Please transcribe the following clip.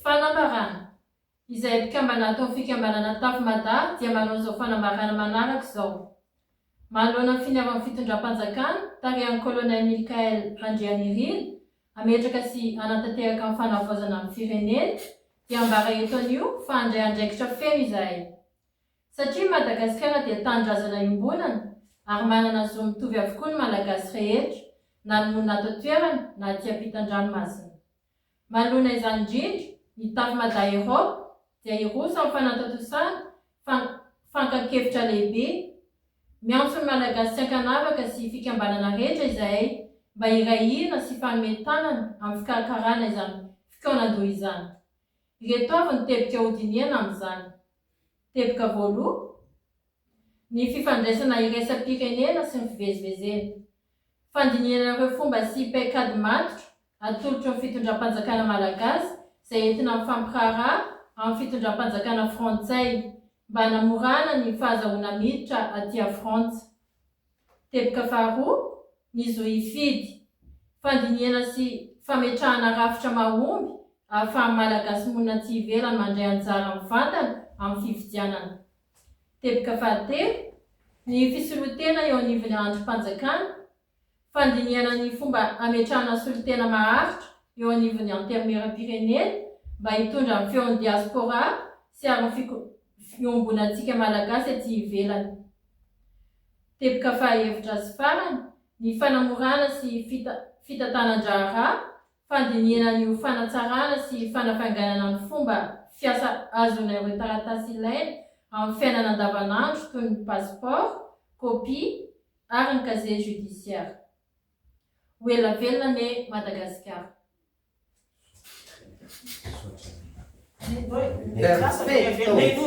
Fanambarana, Izay mpikambana ato amin'ny fikambanana Tafo Mada dia manao izao fanambarana manaraka izao, Manoloana ny finiavan'ny fitondram-panjakana tarihan'ny Colonel Milkael Randrianirina hametraka sy hanatanteraka ny fanavaozana ny firenena dia ambara eto anio fa handray andraikitra feno izahay satria Madagasikara dia tanindrazana iombonana ary manana zo mitovy avokoa ny Malagasy rehetra na ny monina ato an-toerana na aty ampitan-dranomasina. Manoloana izany indrindra, ny Tafi Mada Europe dia hiroso amin'ny fanatontosana fan fankan-kevitra lehibe. Miantso ny Malagasy tsy ankanavaka sy fikambanana rehetra izahay mba hiray hina sy hifanome tanana amin'ny fikarakarana izany fikaonan-doha izany. Ireto avy ny teboka hodinihana amin'izany. Teboka voaloha, ny fifandraisana iraisam-pirenena sy ny fivezivezena. Fandinihana ireo fomba sy paikady matotra Atolotry ny fitondram-panjakana malagasy izay entina mifampiraharaha amin'ny fitondram-panjakana frantsay mba hanamorana ny fahazahoana miditra aty a Frantsa. Teboka faharoa, ny zo hifidy. Fandinihana sy fametrahana rafitra mahomby ahafahan'ny Malagasy monina aty ivelany mandray anjara mivantana amin'ny fifidianana. Teboka fahatelo, ny fisoloan-tena eo anivon'ny andrim-panjakana fandinihana ny fomba hametrahana solontena maharitra eo anivon'ny Antenimierampirenena mba hitondra ny feon'ny diaspora sy ary ny fiombonantsika Malagasy aty ivelany. Teboka fahahevitra sy farany, ny fanamorana sy fitantanan-draharaha, fandinihana ny ho fanatsarana sy fanafainganana ny fomba fiasa azon'ireo taratasy ilaina amin'ny fiainana andavanandro toy ny passeport, kopia, ary ny casier judiciaire. Ho ela velona anie Madagasikara. Perfecto!